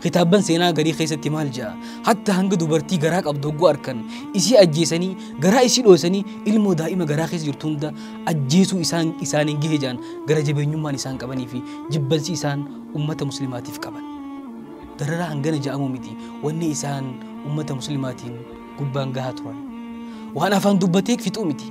Kitaabban seenaa garii keessatti maal ja'a? Hatta hanga dubartii garaa qabdu hogguu arkan isii ajjeesanii garaa isii dhoosanii ilmoo daa'ima garaa keessa jirtu hunda ajjeesuu isaan isaaniin gahe ja'an gara jabeenyummaan isaan qabanii fi jibbansi isaan ummata muslimaatiif qaban. Dararaa hangana ja'amuu miti wanni isaan ummata muslimaatiin gubbaan gahaa turan. Waan afaan dubbatee fixuu miti.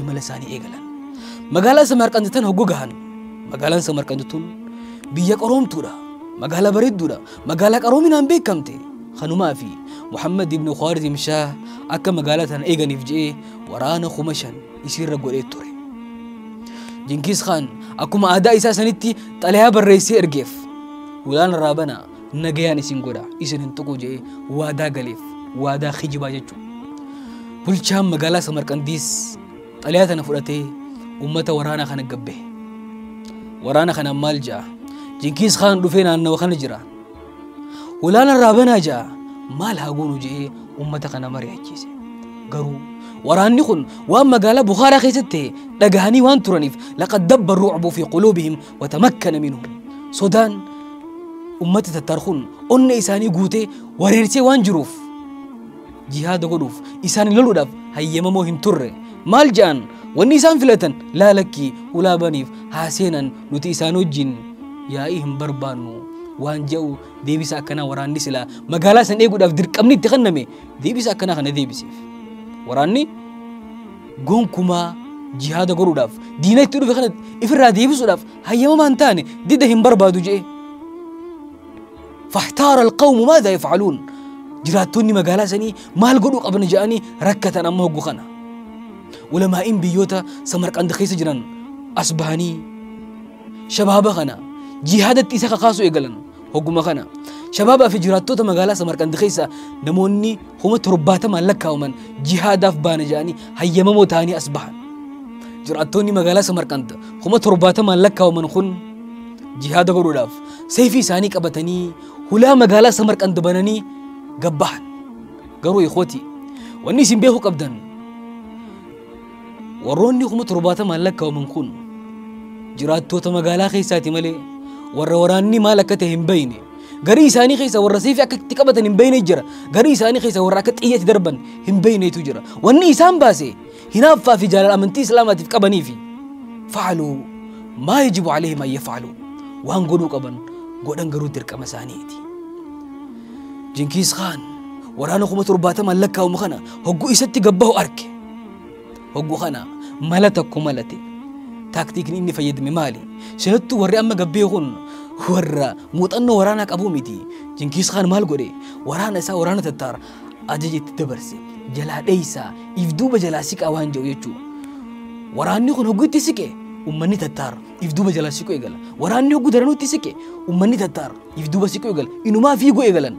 imala isaanii eegalan. Magaalaa Samarqand tan hogguu gahan. Magaalaan Samarqand tun biyya qaroomtuudha. Magaalaa bareedduudha. Magaalaa qaroominaan beekamte. Kanumaa fi Muhammad ibn Khwarizim Shah akka magaalaa tana eeganiif je'ee waraana kuma shan isiirra godhee ture. Jinkiis Khaan akkuma aadaa isaa sanitti xalayaa barreessee ergeef. Hulaan irraa banaa. nagayaan isin godha isin hin tuqu jedhee waadaa galeef waadaa kijibaa jechuudha. Bulchaan magaalaa Samarqandiis xalayaa tana fudhatee uummata waraanaa kana gabbe. Waraana kana maal ja'a? Jinkiis Kaan dhufee naannawa kana jira. Walaana irraa banaa ja'a maal haa goonu jedhee uummata kana mari'achiise. Garuu waraanni kun waan magaalaa Bukhaaraa keessatti ta'e dhagahanii waan turaniif laqad dabba ruucbuu fi quluubihim watamakkana minhu sodaan ummata tattar kun onna isaanii guutee wareersee waan jiruuf jihaada godhuuf isaan loluudhaaf hayyamamoo hin turre maal ja'an wanni isaan filatan laalakkii ulaabaniif haa seenan nuti isaan wajjin yaa'ii hin barbaannu waan ja'u deebisa akkanaa waraanni silaa magaalaa san eeguudhaaf dirqamni itti kenname deebisa akkanaa kana deebiseef waraanni Gonkumaa jihaada godhuudhaaf diina itti dhufe kana ifirraa deebisuudhaaf hayyamamaa hin taane dida hin barbaadu je'e. Fahtaara alqawmu maadaa yafcaluun jiraattonni magaalaa sanii maal godhuu qabna je'anii rakkatan amma hoggu kana. Ulamaa'iin biyyoota Samarqand keessa jiran as bahanii shabaaba kana jihaadatti isa kakaasuu eegalan hogguma kana shabaabaa fi jiraattoota magaalaa samarqand keessaa namoonni kuma torbaatamaan lakkaa'aman jihaadaaf baana jedhanii hayyamamoo ta'anii as bahan jiraattoonni magaalaa samarqand kuma torbaatamaan lakkaa'aman kun jihaada godhuudhaaf seefii isaanii qabatanii hulaa magaalaa samarqand bananii gabbahan garuu ikootii wanni isin beekuu qabdan Warroonni kuma torbaatamaan lakkaa'aman kun jiraattoota magaalaa keessaati malee warra waraanni maal akka ta'e hin beekne garii isaanii keessa warra seefi akka itti qabatan hin beekne jira garii isaanii keessa warra akka xiyyeetti darban hin beeknetu jira wanni isaan baase hinaaffaa fi jaalala amantii islaamaatiif qabanii fi faaluu maa yajibu aleehim ayya faaluu waan godhuu qaban godhan garuu dirqama isaaniiti. Jinkiis Kaan waraana kuma torbaatamaan lakkaa'amu kana hogguu isatti gabbahu arke. Hogguu kana mala tokko malate. Taaktiikni inni fayyadame maali? Sinattuu warri amma gabbee kun warra muuxannoo waraanaa qabu miti. Jinkiis Kaan maal godhe? Waraana isaa waraana tattaar ajaja itti dabarse. Jalaa dheeysaa, if duuba jalaa siqaa waan jedhu jechuudha. Waraanni kun hogguu itti siqe ummanni tattaar if duuba jalaa siquu eegala. Waraanni hogguu daranuutti siqe ummanni tattaar if duuba siquu eegalan inumaa fiiguu eegalan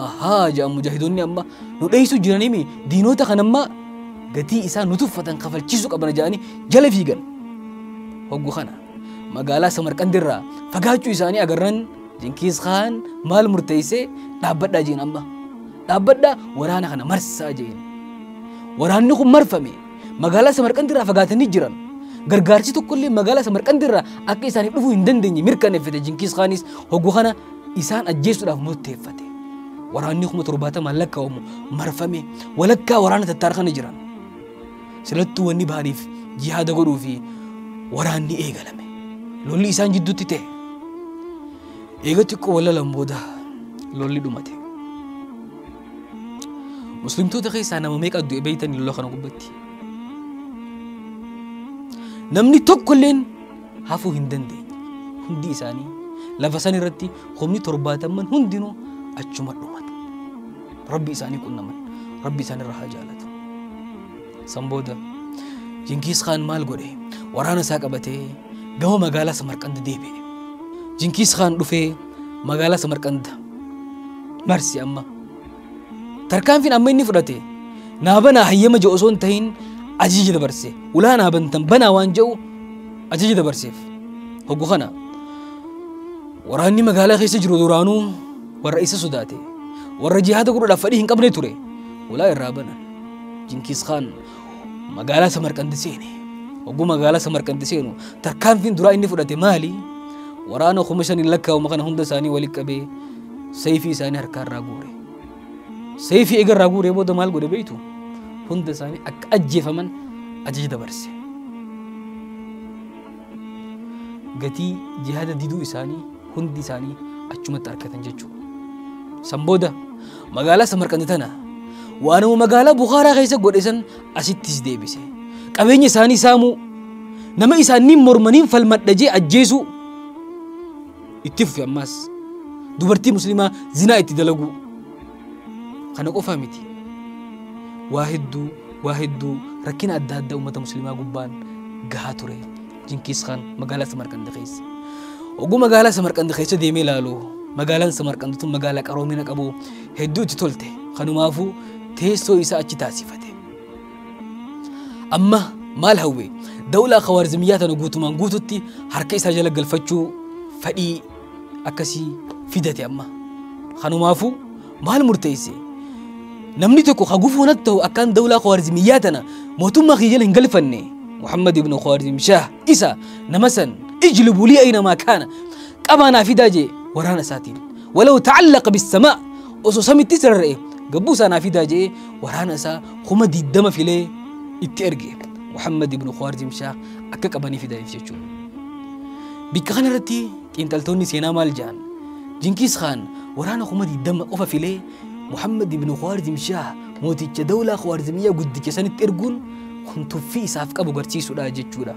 ahaa jedhan mujaahidoonni amma nu dheessu jiranimi diinoota kan ammaa gatii isaa nu tuffatan kafalchiisuu qabana jedhanii jala fiigan hoggu kana magaalaa samarqandirraa fagaachuu isaanii agarran jinkiis kaan maal murteessee dhaabbadhaa jeen amma dhaabbadhaa waraana kana marsaa jeen waraanni kun marfame Magaalaa Samarqand irraa fagaatanii jiran. Gargaarsi tokkollee magaalaa Samarqand irraa akka isaaniif dhufuu hin dandeenye mirkaneeffate Jinkiis Kaanis hogguu kana isaan ajjeesuudhaaf murteeffate. Waraanni kuma torbaatamaan lakkaa'amu marfame walakkaa waraana tattaar kana jiran. Silattuu wanni bahaniif jihaada godhuu fi waraanni eegalame. Lolli isaan jidduutti ta'e. Eega xiqqoo walalan booda lolli dhumate. Muslimtoota keessaa nama meeqa du'e beeytan lola kana gubbatti. Namni tokkolleen hafuu hin dandeenye. Hundi isaanii lafa san irratti humni torbaatamman hundinuu achuma dhumata. Rabbi isaanii qunnaman. Rabbi isaanirra haa jaalatu. San booda Jinkiis Kaan maal godhe? Waraana isaa qabatee gama magaalaa Samarqand deebi'e. Jinkiis Kaan dhufee magaalaa Samarqand marse amma. Tarkaanfiin amma inni fudhate naa banaa hayyama jedhu osoo hin tahin ajaja dabarse. Ulaa naa bantan banaa waan jedhu ajaja dabarseef. Hoggu kana waraanni magaalaa keessa jiru duraanuu warra isa sodaate. Warra jihaada godhuudhaaf fedhii hin qabne ture. Ulaa irraa banan. Jinkiis Khaan magaalaa Samarqandi seene. Oguu magaalaa Samarqandi seenu tarkaanfiin duraa inni fudhate maali? Waraana kuma shaniin lakkaa'uma kana hunda isaanii walitti qabee seeyfii isaanii harkaa irraa guure. Seeyfii eega irraa guuree booda maal godhe beektu? Hunda isaanii akka ajjeefaman ajaja dabarse. Gatii jihaada diduu isaanii hundi isaanii achumatti argatan jechuudha. San booda Magaalaa Samarqandi tana waanuma magaalaa Bukhaaraa keessa godhe san asittis deebise. Qabeenya isaanii saamuu, nama isaaniin mormaniin falmadha jee ajjeesuu itti fufe ammaas. Dubartii musliimaa zinaa itti dalaguu. Kana qofaa miti. Waa hedduu waa hedduu rakkina adda addaa uummata musliimaa gubbaan gahaa ture. Jinkiis Kaan magaalaa Samarqand keessa. Oguu magaalaa Samarqand keessa deemee ilaalu magaalaan Samarqand tun magaalaa qaroomina qabu hedduu itti tolte kanumaafuu teessoo isaa achi taasifate. Amma maal hawwe dawlaa Khawaarizmiyyaa tana guutumaan guututti harka isaa jala galfachuu fedhii akkasii fidate amma. Kanumaafuu maal murteesse namni tokko ka gufuu natti ta'u akkaan dawlaa khawaarizmiyyaa tana mootummaa kiyya jala hin galfanne muhammad ibnu khawaarizm shaah isa nama san ijlibu lii aynamaa kaana qabaa naa fidaa jee waraana isaatiin walaw ta'allaqa bissamaa osoo samitti isa rarra'e gabbuu isaa naa fidaa jee waraana isaa kuma diddama filee itti erge muhammad ibnu khawaarizm shaah akka qabanii fidaniif jechuudha bikka kanarratti Xiinxaltoonni seenaa maal jedhan? Jinkiis Khaan waraana kuma 20 qofa filee Muhammad ibn Khwarizm Shah mooticha dawlaa Khwarizmiyyaa guddicha sanitti erguun kun tuffii isaaf qabu garsiisudha jechuudha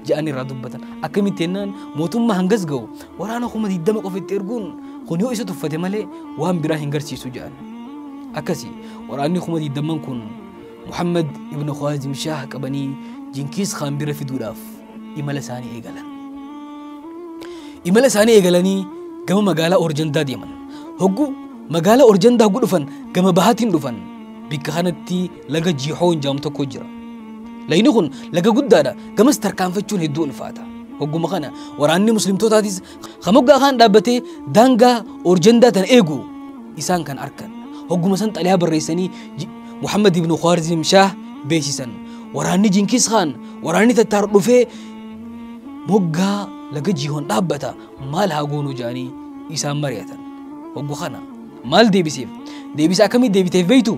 jedhanii irraa dubbatan. Akkamitti jennaan mootummaa hangas gahu waraana kuma 20 qofa itti erguun kun yoo isa tuffate malee waan biraa hin garsiisu jedhan. Akkasi waraanni kuma 20 kun Muhammad ibn Khwarizm Shah qabanii Jinkiis Khaan bira fiduudhaaf imala isaanii eegalan. Imala isaanii eegalanii gama magaalaa Orjandaa deeman. Hogguu magaalaa Orjandaa hogguu dhufan gama bahaatiin dhufan. Bikka kanatti laga Jihoon jedhamu tokko jira. Lagni kun laga guddaadha. Gamas tarkaanfachuun hedduu ulfaata. Hogguma kana waraanni muslimtootaatis Kan moggaa kaan dhaabbatee daangaa orjandaa tana eegu isaan kan arkan. Hogguma san xalayaa barreessanii Muhammad ibn Khwarizim Shaah beeksisan. Waraanni Jinkis Khaan waraanni tattaar dhufee moggaa laga jihoon dhaabbata maal haa goonuu jedhanii isaan mari'atan. Hoggu kana maal deebiseef deebisa akkamii deebiteef beektu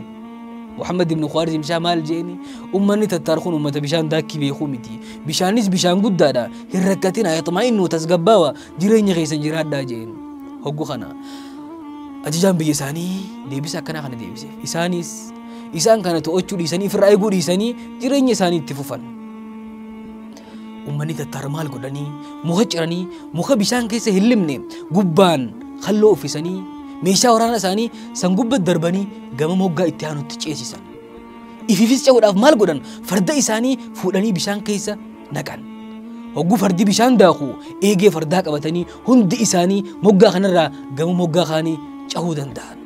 Muhammad ibn Khwarizim isaa maal jeeni ummanni tattaar kun ummata bishaan daakkii beekuu miti bishaanis bishaan guddaadha hin rakkatina yaxmaa'innu tasgabbaawa jireenya keessan jiraadhaa jeen hoggu kana ajajaan biyya isaanii deebisa akkanaa kana deebiseef isaanis isaan kana to'achuu dhiisanii ofirraa eeguu dhiisanii jireenya isaanii itti fufan Uummanni tattaar maal godhanii muka ciranii muka bishaan keessa hin limne gubbaan halloo uffisanii meeshaa waraanaa isaanii san gubba darbanii gama moggaa itti aanutti ceesisan. Ifiifis ce'uudhaaf maal godhan farda isaanii fuudhanii bishaan keessa naqan. Hogguu fardi bishaan daaku eegee fardaa qabatanii hundi isaanii moggaa kanarraa gama moggaa kaanii cahuu danda'an.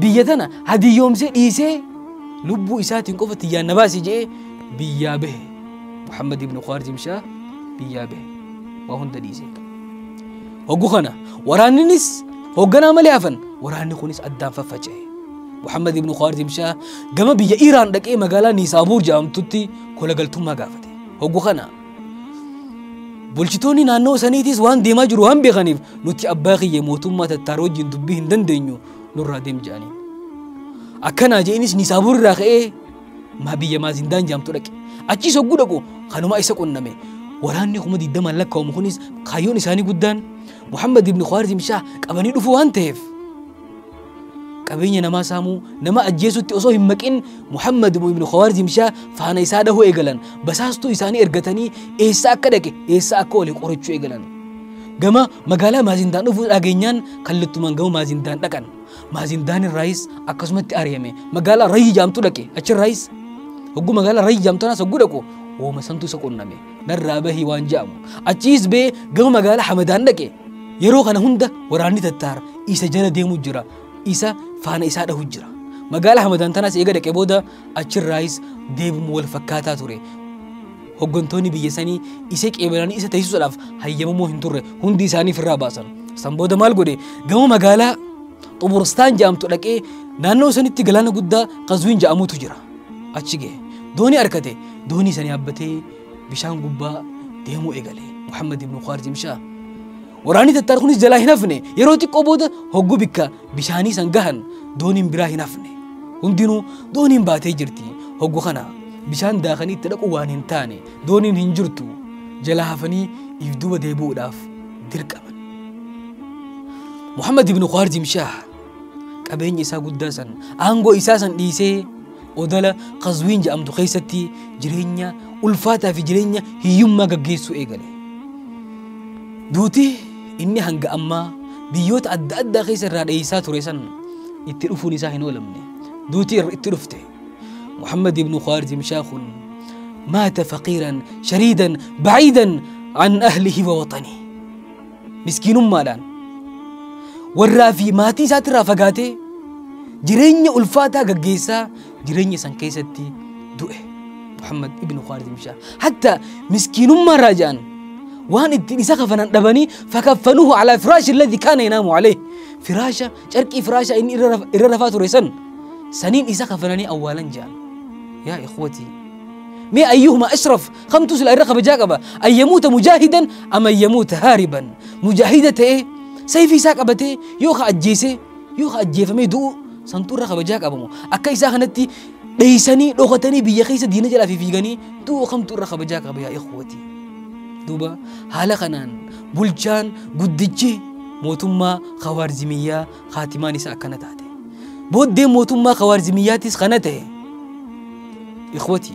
biyya tana hadiyyoomsee dhiisee lubbuu isaatiin qofa tiyyaan na baasi je'ee biyyaa bahe muhammad ibnu khaarzim shaa biyyaa bahe waa hunda dhiisee hoggu kana waraanninis hoogganaa malee hafan waraanni kunis addaan faffaca'e muhammad ibnu khaarzim shaa gama biyya iiraan dhaqee magaalaa niisaabuur jedhamtutti kolagaltummaa gaafate hoggu kana Bulchitoonni naannoo saniitis waan deemaa jiru waan beekaniif nuti abbaa kiyya mootummaa tattaaroo wajjin dubbii hin dandeenyu nurraa deem jedhanii. Akkanaa je'inis Nisaabur irraa ka'ee maa biyya Maazindaan jaamtu dhaqe. Achiis hogguu dhaqu kanumaa isa qunname. Waraanni kuma digdamaan lakkaa'amu kunis kaayyoon isaanii guddaan Muhammad ibn Khawaarizm Shaah qabanii dhufuu waan ta'eef qabeenya namaa saamuu nama ajjeesutti osoo hin maqin Muhammad ibn Khawarizm Shaa faana isaa dhahuu eegalan basaastuu isaanii ergatanii eessa akka dhaqe eessa akka ole qorachuu eegalan. Gama magaalaa Maazindaan dhufuu dhageenyaan kallattumaan gama Maazindaan dhaqan. Maazindaan irraayis akkasumatti ari'ame magaalaa Rayyi jaamtu dhaqe achirraayis hogguu magaalaa Rayyi jaamtu anas hogguu dhaqu wooma santu isa qunname. narraa bahii waan ja'amu achiis bee gama magaalaa hamadaan dhaqe yeroo kana hunda waraanni tattaar isa jala deemu jira isa faana isaa dhahu jira magaalaa hamadaan tanaas eega dhaqe booda achirraayis deebimu wal fakkaataa ture hoggantoonni biyya sanii isa qeebalanii isa teessisuudhaaf hayyamamoo hin turre hundi isaanii firraa baasan san booda maal godhe gama magaalaa xuburstaan ja'amtu dhaqee naannoo sanitti galaana guddaa qazwiin ja'amutu jira achi gahe doonii arkate doonii sanii abbatee bishaan gubbaa deemuu eegale muhammad ibnu khaarjim shaa waraanni tattaar kunis jalaa hin hafne yeroo xiqqoo booda hogguu bikka bishaanii san gahan dooniin biraa hin hafne hundinuu dooniin baatee jirti hoggu kana bishaan daakanii itti dhaqu waan hin taane dooniin hin jirtu jalaa hafanii if duuba deebi'uudhaaf dirqaman muhammad ibnu khaarjim shaa qabeenya isaa guddaa san aangoo isaa san dhiisee odala Qazwiin jedhamtu keessatti jireenya ulfaataa fi jireenya hiyyummaa gaggeessuu eegale. Duuti inni hanga ammaa biyyoota adda addaa keessa irraa dheessaa ture san itti dhufuun isaa hin oolamne. Duuti itti dhufte. Muhammad ibn Khwarizim Shaakun maata faqiiran shariidan baciidan an ahlihi wa waxanii. miskiinummaadhaan warraa fi maatii isaatirraa fagaatee jireenya ulfaataa gaggeessaa jireenya san keessatti du'e. Muhammad ibn Khaalid ibn Shaar. Hatta miskiinummaa irraa ja'an waan ittiin isa kafanan dhabanii fakaffanuhu alaa firaashi alladhi kaana yanaamu alee. Firaasha carqii firaasha inni irra raf- irra rafaa ture san saniin isa kafananii awwaalan ja'an. Yaa ikhwatii mee ayyuhuma ashraf kamtu sila irra kabajaa qaba an yamuuta mujaahidan am an yamuuta haariban mujaahida ta'ee sayfii isaa qabatee yoo ka ajjeesee yoo ka ajjeefamee du'u santu irra kabajaa qabamu akka isaa kanatti dheeysanii dhokatanii biyya keessa diina jalaa fi fiiganii du'u kamtu irra kabajaa qaba yaa ikhwati duuba haala kanaan bulchaan guddichi mootummaa kawaarzimiyyaa kaatimaan isaa akkana taate booddee mootummaa kawaarzimiyyaatis kana ta'e ikhwati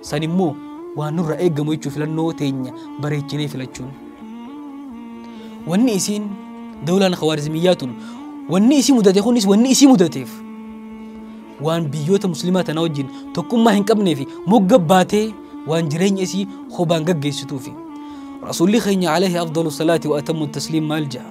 San immoo waan nurra eegamu jechuun filannoo teenya bareechinee filachuun. Wanni isiin dawlaan khawaarizmiyyaa tun wanni isii mudate kunis wanni isii mudateef waan biyyoota muslimaa tana wajjin tokkummaa hin qabnee fi mogga baatee waan jireenya isii hobaan gaggeessituufi. Rasuulli keenya alayhi afdalu salaati wa atammu tasliim maal ja'a?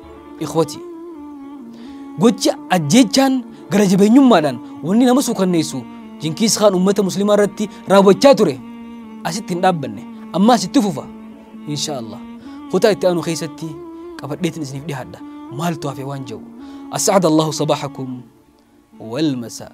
Ikhwati, gocha ajjeechaan gara jabeenyummaadhaan wanni nama suukanneessu jinkiis kaan ummata muslimaa irratti raawwachaa ture asitti hin dhaabbanne ammaas itti fufa insha allah kutaa itti aanu keessatti qabadheetin isiniif dhihaadha maaltu hafe waan jedhu as'aada allahu sabaaxakum walmasaa